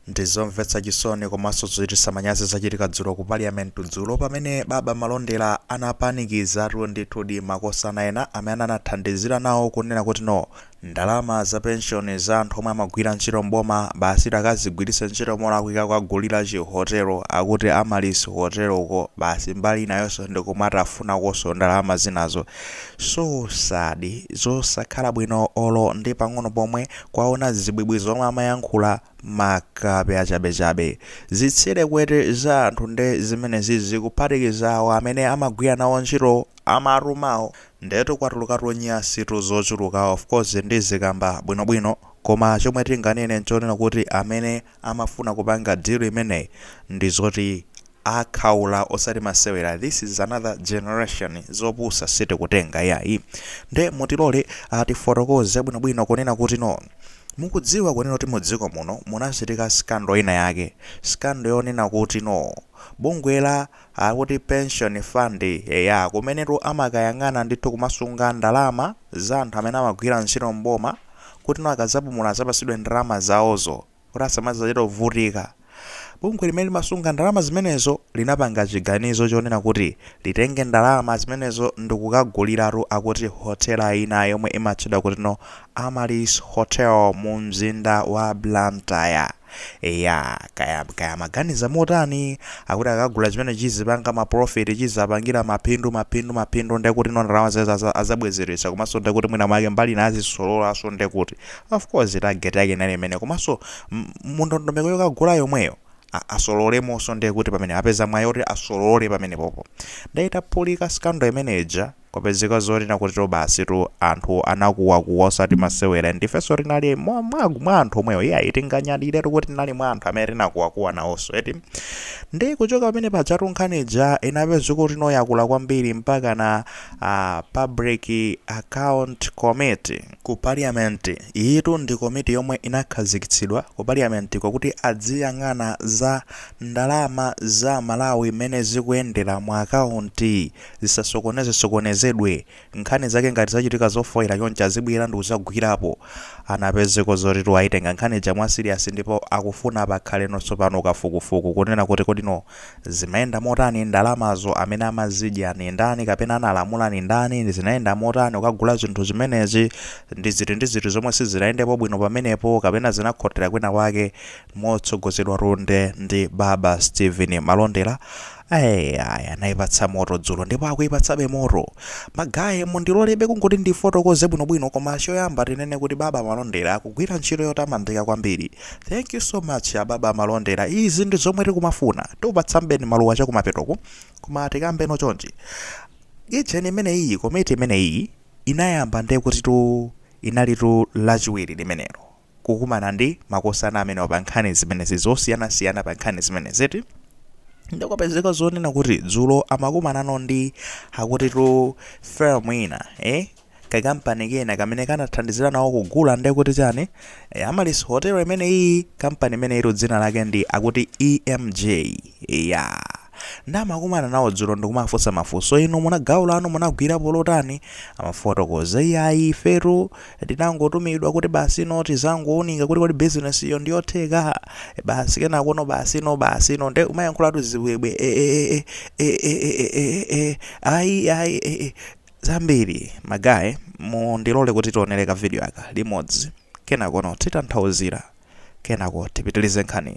Ndizomvetsa chisoni komanso zochititsa manyazi zachitika dzulo ku parliament dzulo pamene baba Malondera anapanikizatu ndithudi makosana ena amene anathandizira nawo kunena kuti no ndalama za pension za anthu omwe amagwira ntchito m'boma basi takazigwiritse ntchito molakwika kukagulira chihotelo akuti Amaryllis hoteloko basi mbali inayonso ndi kumatafunakonso ndalama zinazo so sad zosakhala bwino olo ndi pang'ono pomwe Kwaona zibwibwi zomwe amayankhula makape achabechabe. Zitsire kwete za anthu nde zimenezi zikuphatikiza awo amene amagwira nawo ntchito amatumawo ndetu kwatulukatu nyasitu zochuluka of course ndizikamba bwinobwino koma chomwe tinganene nchonena kuti amene amafuna kupanga deal imeneyi ndizoti akhaula osati masewera this is another generation zopusa sitikutenga yayi nde mutilolea tifotokoze bwinobwino kunena kuti no mukudziwa kunena kuti mudziko muno munachitika scandal ina yake scandal yonena kuti no bungwe la Akuti pension fund eya kumenetu amakayang'ana ndithu kumasunga ndalama za anthu amene amagwira ntchito m'boma kuti no akazapumula azapasidwe ndalama zawozo kuti asamazachite kuvutika. Bungwe limene limasunga ndalama zimenezo linapanga chiganizo chonena kuti litenge ndalama zimenezo ndikukaguliratu akuti hotel ina yomwe imatchedwa kuti no Amaryllis Hotel mu mzinda wa Blantyre. Eya, kaya amaganiza motani, akuti akagula chimene chizipanga ma profit chizapangira maphindu maphindu maphindu ndekuti no ndalama zimene aza- azabwezeretsa komanso ndekuti mwina mwake mbali ina azisololanso ndekuti of course target yake inali imene komanso m- mundondomeko yokagula yomweyo a- asololemonso ndekuti pamene apeza mwayi oti asolole pamenepopo nde itaphulika scandal imeneja Kwapezeka zonena kuti no basitu anthu anakuwakuwa osati masewera ndifenso tinali mwa anthu omwewo iyayi tinganyadiretu kuti tinali mwa anthu amene tinakuwakuwa nawonso eti ndi kuchoka pamenepajatu nkhani ija inapezeka kuti no yakula kwambiri mpaka na ah, public account committee ku parliament iyitu ndi komiti yomwe inakhazikitsidwa ku parliament kwakuti adziyang'ana za ndalama za Malawi mmene zikuyendera mu akaunti zisasokonezesokonezedwe, nkhani zake ngati zachitika zofoira choncho azibwera ndikuzagwirapo, anapezeka zotitu ayitenga nkhani ija mwa serious ndipo akufuna pakhale no tsopano kafukufuku kunena kuti kodi no zimayenda motani ndalamazo amene amazidya ndi ndani kapena analamula ndi ndani zinayenda motani kukagula zinthu zimenezi ndiziti ndiziti zomwe sizinayendepo bwino pamenepo kapena zinakhotera kwina kwake motsogozedwatu nde ndi baba Steven Malondera Eeeh! Anaipatsa moto dzulo ndipo akuipatsabe moto. Ma guy mundilolebe kungoti ndifotokoze bwinobwino koma choyamba tinene kuti Baba Malondera akugwira ntchito yotamandika kwambiri. Thank you so much a Baba Malondera izi ndi zomwe tikumafuna. Tikupatsanibeni maluwa chakumapetoku koma tikambeno chonchi. Ijeni imeneyiyi, komiti imeneyiyi inayamba ndekuti inalitu Lachiwiri limenelo. kukumana ndi makosana amenewa pa nkhani zimenezi zosiyanasiyana pa nkhani zimeneziti nde kupezeka zonena kuti dzulo amakumanano ndi akutitu firm ina eh? kakampani kena kamene kanathandizira nawo kugula nde kuti chani e, Amaryllis Hotel imene iyi kampani imeneyitu dzina lake ndi akuti EMJ ya. nde amakumana nawo dzulo ndikumawafunsa mafunso inu muna, gawo lanu munagwirapo ndi lotani amafotokoza iyayi ifetu tinangotumidwa kuti basi no tizangounika kuti kodi business iyo ndiyotheka e basi kenakono basi no basi no nde umayankhulatu zibwebwe e e e e e e e e e e ayi ayi e e zambiri ma guy mundilole kuti tionere ka video aka limodzi kenakono titanthauzira kenako tipitilize nkhani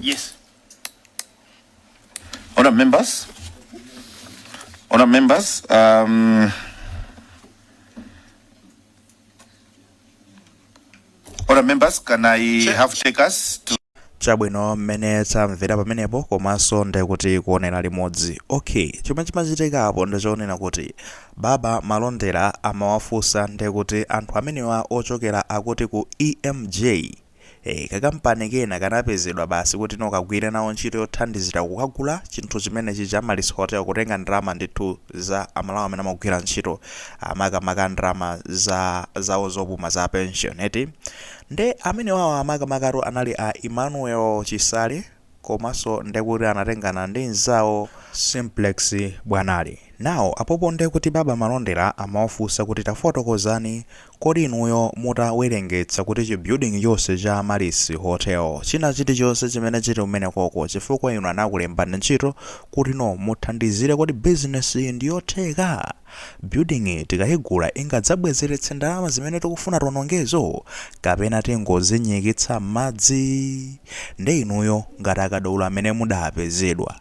Yes. Honourable members, honourable members, um, honourable members, can I have takers to chabwino mmene tamvera pamenepo komanso ndikuti kuonera limodzi okay chomwe chimachitikapo ndichonena kuti Baba malondera amawafunsa ndekuti anthu amenewa ochokera akuti ku EMJ ee kakampani kena kanapezedwa basi kuti no kagwire nawo ntchito yothandizira kukagula chinthu chimene chija Amaryllis Hotel kutenga ndalama ndithu za amalawi amene amagwira ntchito makamaka ndalama za zawo zopuma za pension eti nde amenewawa makamakatu anali a Emmanuel Chisale komanso nde kuti anatengana ndi mnzawo Simplex Bwanali now apopo nde kuti Baba Malondera amawafunsa kuti tafotokozani kodi inuyo mutawerengetsa kuti chi building chonse cha Amaryllis Hotel china chili chonse chimene chili kumenekoko chifukwa inu anakulembani ntchito kuti no muthandizire kodi business yi ndiyotheka Building yi tikaigula ingadzabwezeretse ndalama zimene tikufuna tionongezo? Kapena tingozinyikitsa m'madzi? Nde inuyo ngati akadaulo amene mudapezedwa,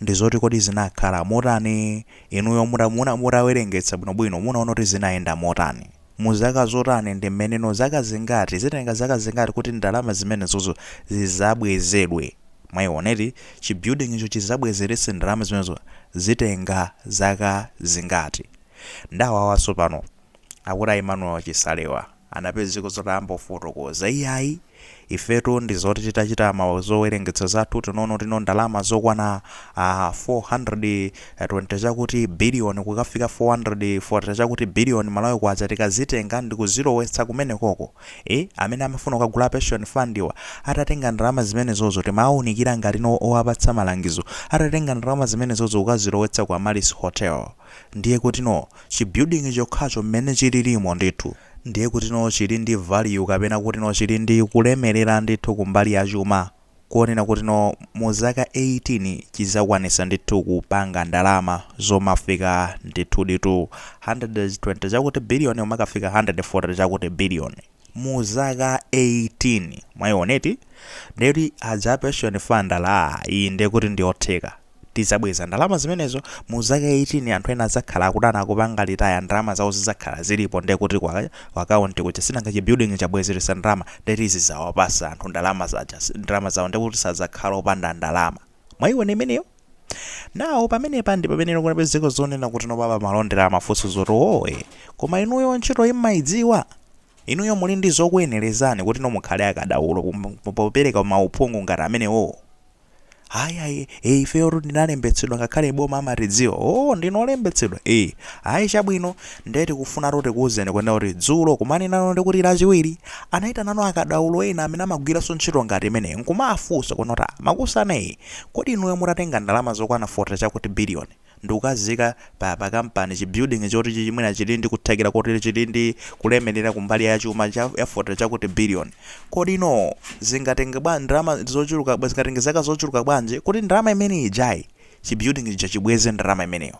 ndizoti kodi zinakhala motani? Inuyo mutamu... mutawerengetsa bwinobwino munaona kuti zinayenda motani? mu zaka zotani ndi mmeneno zaka zingati zitenga zaka zingati kuti ndalama zimenezozo zizabwezedwe mwayiona eti chi building cho chizabwezeretse ndalama zimenezo zitenga zaka zingati nde awawanso pano akuti a Emmanuel Chisalewa anapezeka zoti amafotokoza iyayi Ifetu ndi zoti titachita ma zowerengetsa zathu tinaona kutino ndalama zokwana 120 chakuti billion kukafika 140 chakuti billion Malawi kwacha tikazitenga ndikuzilowetsa kumenekoko ee amene amafuna kukagula a pension fund wa atatenga ndalama zimenezozo timawaunikira ngatino owapatsa malangizo atatenga ndalama zimenezozo kukazilowetsa ku Amaryllis Hotel ndiye kutino chi building chokhacho mmene chililimo ndithu ndiye kutino chili ndi value kapena kutino chili ndi kulemelera ndithu kumbali ya chuma kuona kutino mu zaka 18 chizakwanisa ndithu kupanga ndalama zomafika ndithuditu 120 chakuti billion kumakafika 140 chakuti billion mu zaka 18 mwayiona eti ndiye kuti za pension fund ndalama iyi ndiye kuti ndiyotheka Tidzabweza ndalama zimenezo mu zaka 18 anthu ena adzakhala akudzapanga retire ndalama zawo zidzakhala zilipo nde kuti ku akaunti kuja sinanga chi building chabwezelesa ndalama nde tizidzawapasa anthu ndalama ndalama zawo nde kuti sadzakhala opanda ndalama mwayiona imeneyo now pamenepa ndipamene kunapezeka zonena kuti no baba a Malondera amafunsa zoti oo iyayi koma inuyo ntchitoyi mmayidziwa? Inuyo muli ndi zokuyenelezani kutino mukhale akadaulo popereka ma uphungu ngati amenewowo? ayi ayi e, ifeyo tu ndi olembetsedwa ngakhale a boma amatidziwa o ndinu olembetsedwa e ayi chabwino ndiye tikufuna tu tikuwuzeni kunena kuti dzulo koma nano ndiye kuti lachiwiri anayitanano akadaulo ena amene amagwiranso ntchito ngati imeneyi nkuwafunsa kunena kuti "Ah, makosana inu kodi inuyo mutatenga ndalama zokwana 40 chakuti biliyoni ndikukaziyika pa pa kampani, chi building choti chi mwina chili ndi kuthekera koti chili ndi kulemelera kumbali ya chuma cha ya fote chakuti billion, kodi no zingatenge bwa ndalama zochuluka bwa zingatenge zaka zochuluka bwanji kuti ndalama imene ijayi chi building chija chibweze ndalama imeneyo?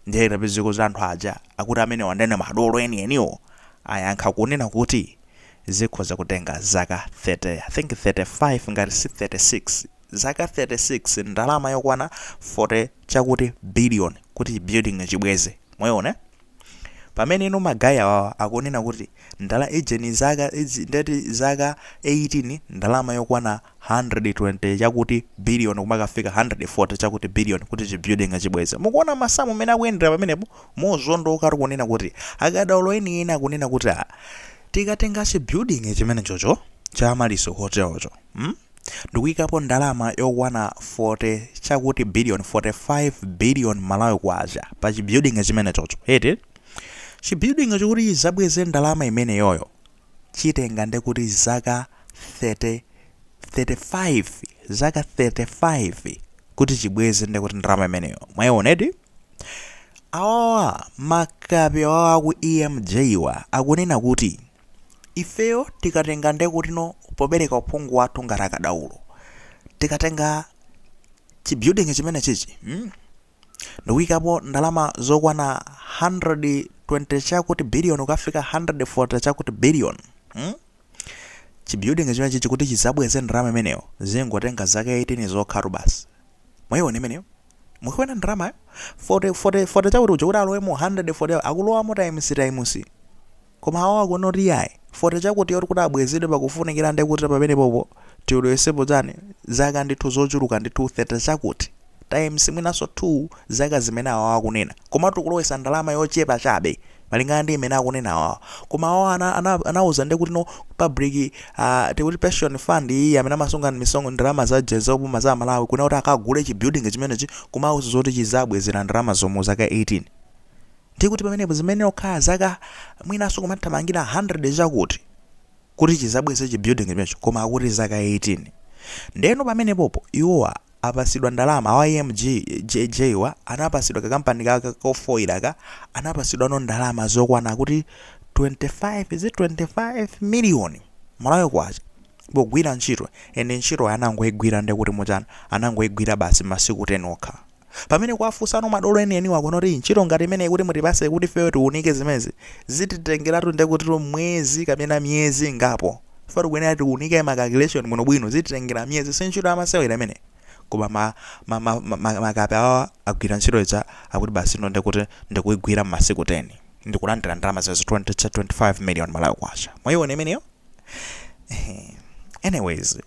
Ndiye anapezeka kuti anthu aja akuti amenewa nde madolo enieniwo ayankha kunena kuti zikhoza kutenga zaka 30 I think 35 ngati si 36. zaka 36 ndalama yokwana 40 chakuti billion kuti chi building chibweze mwayiona pamene ino ma guy awawa akunena kuti ndala ijeni zaka izi ndeti zaka 18 ndalama yokwana 120 chakuti billion kumakafika 140 chakuti billion kuti chi building chibweze mukuona masamu mmene akuyendera pamenepo mozondoka eti kunena kuti akadaulo eni eni akunena kuti ah, tikatenga chi building chimenechocho cha Amaryllis Hotel cho mm? ndikuikapo ndalama yokwana 40 chakuti billion, 45 billion Malawi Kwacha pa chi building chimenechocho eti? Chi building cho kuti chizabweze ndalama imeneyoyo chitenga ndekuti zaka 30, 35, zaka 35 kuti chibweze ndekuti ndalama imeneyo. Mwaiona eti? Awawa makape awawa aku EMJ wa akunena kuti Ifeyo tikatenga ndekutino popereka uphungu wathu ngati akadaulo, tikatenga chi building chimenechichi mm ndikuikapo ndalama zokwana 120 chakuti billion kukafika 140 chakuti billion mm chi building chimenechichi kuti chizabweze ndalama imeneyo zingotenga zaka 18 zokhatu basi. Mwaiona imeneyo? Mukuiona ndalamayo? 40 40 40 chakuti uja kuti alowemo 140 akulowamo times times. Koma awa akunena kuti yayi, 40 chakuti yoti kuti abwezedwe pakufunikira nde kuti pamenepopo tilowesepo chani, zaka ndithu zochuluka ndithu 30 chakuti, times mwinanso 2 zaka zimene awawa akunena. Koma tikulowesa ndalama yochepa chabe malingana ndi imene akunena awawa. Koma awawa ana ana anauza nde kuti no public ah tikuti pension fund iyi amene amasunga misong ndalama za ja za boma za Malawi kunena kuti akagule chi building chimenechi kumawauza zoti chizabwezera ndalama zomwe zaka 18. ndiye kuti pamenepo zimenera kukhala zaka mwinanso kumathamangira 100 chakuti kuti chizabweze chi building chimenecho koma akuti zaka 18 ndeno pamenepopo iwowa apasidwa ndalama awa emj wa anapasidwa kakampani kaka kofoira ka anapasidwano ndalama zokwana kuti 25 zi 25 miliyoni malawi kwacha pogwira ntchito ende ntchito anangoigwira ndekuti muchana anangoigwira basi masiku 10 okha Pamene kuwafusano madolo enieniwo akunena kuti ntchito ngati imeneyi kuti mutipase kuti ifeyo tiunike zimenezi zititengeratu ndekutitu mwezi kapena miyezi ingapo chifukwa tikuyenera tiunike ma calculation bwinobwino zititengera miyezi si ntchito yamasewera imeneyi koma ma, ma, ma, ma, ma, makape awawa agwira ntchito ija akuti basi ino ndekuti ndikuigwira m'masiku 10 ndikulandira ndalama zimenezo 20 25 million Malawi kwacha mwaiona imeneyo anyways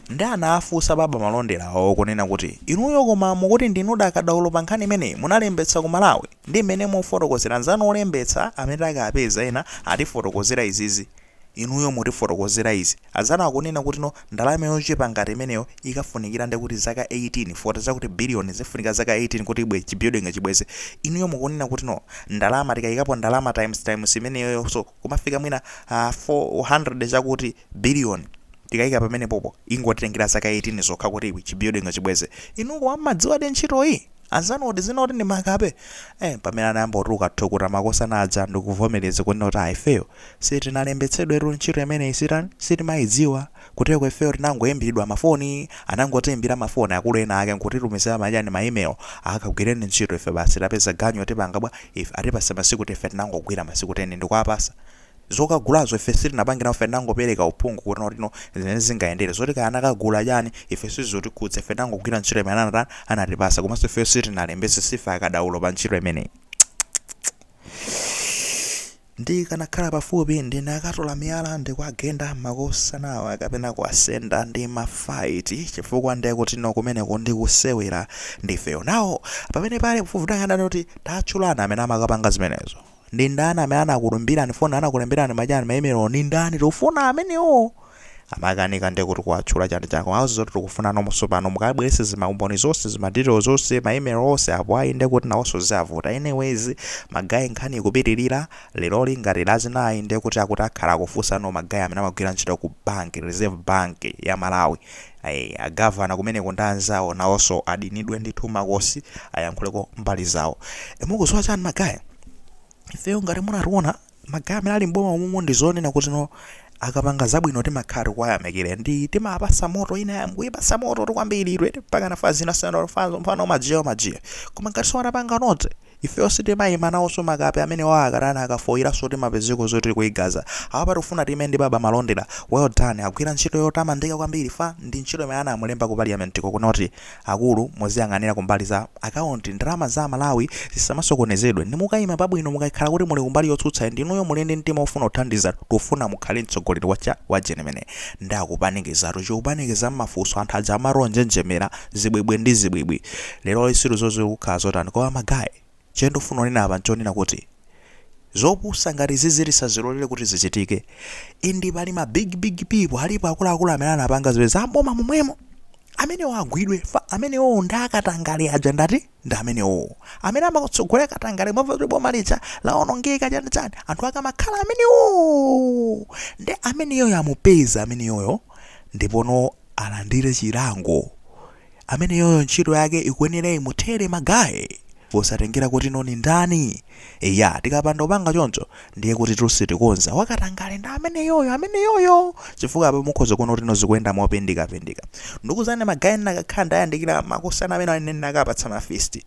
nde anafunsa baba malonderawo kunena kuti inuyo koma mukuti ndinudi akadaulo pa nkhani imeneyi munalembetsa ku malawi ndi mmene mufotokozera anzanu olembetsa amene takapeza ena atifotokozera izizi inuyo mutifotokozera izi anzanu akunena kuti no ndalama yochepa ngati imeneyo ikafunikira nde kuti zaka 18 foti zakuti biliyoni zifunika zaka 18 kuti ibwe chibuilding chibweze inuyo mukunena kuti no ndalama tikayikapo ndalama times times imeneyoyonso kumafika mwina uh, 400 chakuti billion tikayika pamenepopo ingotitengera zaka 18 zokha kuti iwi chibuilding chibweze inu koma mmadziwadi ntchito iyi anzanu akuti zina akuti ndi makape eh, pamene anayamba kutuluka thukuta makosana aja ndikuvomereza kunena kuti ayi ifeyo sitinalembetsedwetu ntchito imeneyi sitani sitimayidziwa Kutereko ifeyo tinangoimbidwa ma foni, anangotiimbira ma foni akulu ena ake nkutitumizira machani ma email akagwireni ntchito ife basi tapeza ganyu atipanga bwa ife atipasa masiku 10 ife tinangogwira masiku 10 ndikuwapasa zokagulazo ife sitinapange nawo ife tinangopereka uphungu kuti no zimene zingayendere zoti kaya anakagula chani ife sizutikhudza ife tinangogwira ntchito imene anatani anatipasa komanso ifeyo sitinalembetse siife akadaulo pa ntchito imeneyi. Ndikanakhala pafupi ndikanatola miyala ndikwagenda makosanawa kapena kuwasenda ndi ma fight chifukwa ndekuti no kumeneko ndikusewera ndifeyo now pamenepa lekufufuta ngandani kuti tatchulani amene amakapanga zimenezo ndindani amene anakuimbirani phone anakulemberani ma chani maimelo nindani tikufuna amenewo amakanika nde kuti kuwatchula chani chani komanso zoti tikufuna nonse pano mukabwerese zima umboni zonse zima detail zonse ma email onse apo ayi nde kuti nawonso zavuta anyways magayi nkhani ikupitirira leroli ngati lachinayi nde kuti akuti akhala akufunsa no magayi amene amagwira ntchito ku bank reserve bank ya malawi ayi agavana kumeneko ndi anzawo nawonso aitanidwe ndithu makosana ayankhuleko mbali zawo E, mukuziwa chani magayi ifeyo ngati munationa magayi amene ali m'boma umumu ndizonena kuti no akapanga zabwino timakhala tikuwayamikira and timawapasa moto ina ya- kuipasa moto tu kwambiri iwe mpaka nafa zina sena fanzo mfana umajiya umajiya koma ngati siwanapanga note ifeyo sitimaima nawonso makape amenewawo akatana akafoyiranso timapezeko zoti kuigaza apa tikufuna time ndi baba malondera well done agwira ntchito yotamandika kwambiri fa ndi ntchito imene anamulemba ku parliament ko kunoti Akulu muziyang'anira kumbali za akaunti ndalama za Amalawi zisamasokonezedwe ndi mukaima pabwino mukakhala kuti muli kumbali yotsutsa and inuyo muli ndi mtima ofuna kuthandiza tufuna mukhale mtsogoleri wa cha wa genuine nde akupanikizatu chikupanikiza mmafunso anthu aja amati onjenjemera zibwibwi ndi zibwibwi leroli sitidziwa zizi kukhala zotani koma ma guy Chimene ndikufuna kunena apa nchonena kuti zopusa ngati izizi tisazilolere kuti zichitike and pali ma big big people alipo akuluakulu amene anapanga zimenezi amboma momwemo amenewo agwidwe chifukwa amenewowo ndi akatangale aja ndati ndi amenewowo amene amatsogolera katangale mwamva kuti boma lija lawonongeka chani chani anthu ake amakhala amenewowo nde ameneyoyo amupeze ameneyoyo ndipono alandire chilango ameneyoyo ntchito yake ikuyenera imuthere ma guy posatengera kuti no ni ndani eya tikapanda kupanga choncho ndiye kutitu sitikonza wakatangale ndi ameneyoyo ameneyoyo chifukwa apa mukhoza kuona kuti no zikuyenda mopindikapindika ndikuzani ma guy ndinakakhala ndayandikira makosana amene aja ine ndinakawapatsa ma fist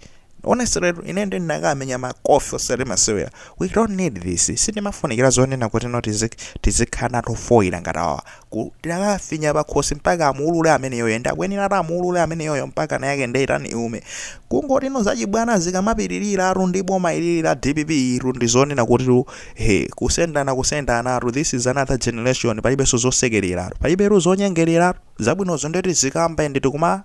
Honestly ine nde ndinakamenya makofi osati masewera. We don't need this. Sizimafunikira zonena kuti no tizik tizikhala nawo ofoira ngati awawa. Kuti tidakafinya pakhosi mpaka amuulule ameneyoyo and akuyenera ati amuulule ameneyoyo mpakana yake ndeyitani iume. Kungoti no zachibwana zikamapitiliratu ndi boma ilili la dpp iyitu ndi zonena kutitu he kusendana kusendanatu this is another generation palibenso zosekereratu palibetu zonyengereratu. Zabwinozo nde tizikamba and tikuma